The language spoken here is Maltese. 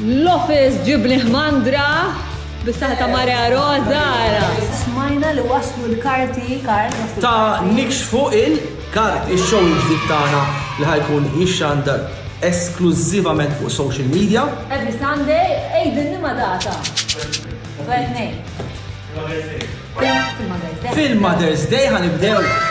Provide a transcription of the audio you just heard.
L-office ġibni ħmandra bis-saħħa ta' Maria Rosa. Smajna li waslu l-karti kart. Ta' nikxfu il-kart ix-show il-ġdid tagħna li ħajkun jixxandar esklużivament fuq social media. Every Sunday, ejdinni ma data. Fil-Mother's Day ħanibdew.